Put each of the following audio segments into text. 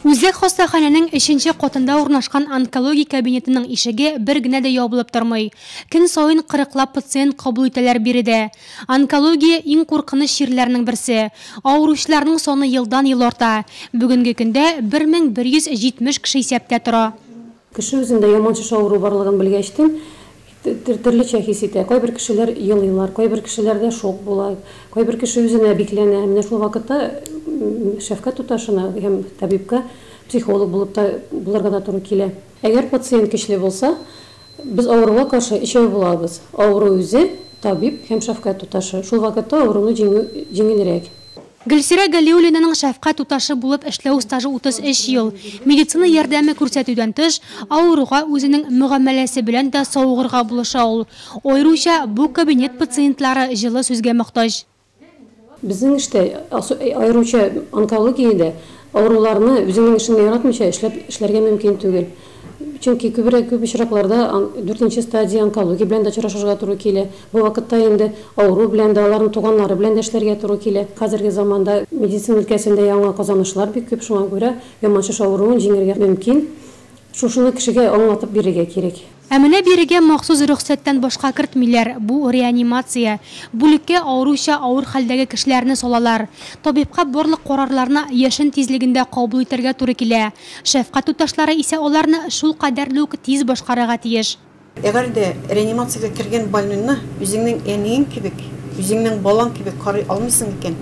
Үзәк хастаханәнең өченче катында урнашкан онкология кабинетының ишеге бер генә дә ябылып тормый. Көн саен кырыклап пациент кабул итәләр биредә. Онкология, иң куркыныч чирләрнең берсе. Авыручыларның саны елдан-ел арта. Бүгенге көндә 1170 кеше исәптә тора. Кеше үзендә яман шеш авыруы барлыгын белгәчтен, төрлечә хис итә. Кайбер кешеләр елыйлар, кайбер кешеләрдә шок була, кайбер кеше үзенә бикләнә. Менә шул вакытта шәфкать туташына һәм табибка психолог булып та булырга да туры килә. Әгәр пациент көчле булса, без авыруга каршы өчәү булабыз, авыру үзе, табиб һәм шәфкать туташы. Шул вакытта авыруны җиңү җиңелрәк. Гөлсирә Галиуллинаның шәфкать туташы булып эшләү стажы 33 ел. Медицина ярдәме күрсәтүдән тыш, авыруга үзенең мөгамәләсе белән дә савыгырга булыша ул. Аеруча бу кабинет пациентлары җылы сүзгә мохтаҗ. Безнең эштә, аеруча онкологиядә, авыруларны үзеңнең эшеңне яратмыйча эшләп эшләргә мөмкин түгел. Чөнки күбрәк, күп очракларда дүртенче стадия онкология белән дә очрашырга туры килә. Бу вакытта инде авыру белән дә, аларның туганнары белән дә эшләргә туры килә. Хәзерге заманда медицина өлкәсендә яңа казанышлар бик күп, шуңа күрә яман шеш авыруын җиңәргә мөмкин. Шушыны кешегә аңлатып бирергә кирәк. Ә менә бирегә махсус рөхсәттән башка кертмиләр, бу реанимация. Бүлеккә аеруча авыр хәлдәге кешеләрне салалар. Табибка барлык карарларны яшен тизлегендә кабул итәргә туры килә. Шәфкать туташлары исә аларны шул кадәр үк тиз башкарырга тиеш. Әгәр дә реанимациягә кергән больнойны үзеңнең әниең кебек, үзеңнең балаң кебек карый алмыйсың икән,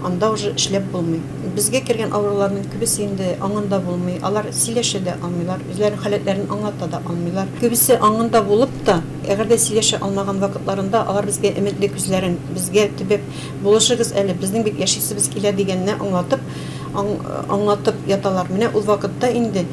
анда уже эшләп булмый. Безгә кергән авыруларның күбесе инде аңында булмый, алар сөйләшә дә алмыйлар, үзләренең халәтләрен аңлата да алмыйлар. Күбесе аңында булып та, әгәр дә сөйләшә алмаган вакытларында, алар безгә өметле күзләрен, безгә төбәп, булышыгыз әле, безнең бит яшисебез килә дигәнне аңлатып, аңлатып яталар. Менә ул вакытта инде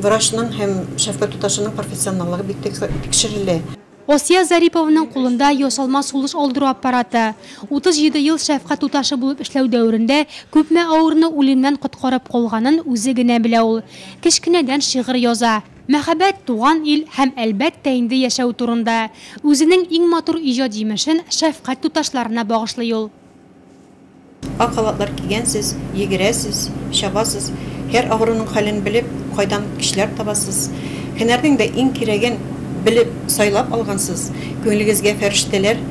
врачның һәм шәфкать туташының профессионаллыгы бик тикшерелә. Асия Зарипованың кулында ясалма сулыш алдыру аппараты. 37 ел шәфкать туташы булып эшләү дәверендә күпме авыруны үлемнән коткарып калганын үзе генә белә ул. Кечкенәдән шигырь яза. Мәхәббәт, туган ил һәм, әлбәттә инде, яшәү турында. Үзенең иң матур иҗат җимешен шәфкать туташларына багышлый ул. Ак халатлар кигәнсез, йөгерәсез, чабасыз, һәр авыруның хәлен белеп, кайдан көчләр табасыз, һөнәрнең дә иң кирәген белеп, сайлап алгансыз, күңелегезгә фәрештәләр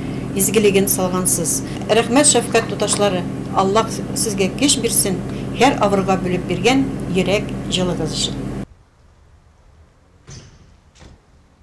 изгелеген салгансыз. Рәхмәт, шәфкать туташлары! Аллаһ сезгә көч бирсен, һәр авыруга бүлеп биргән йөрәк җылыгыз өчен!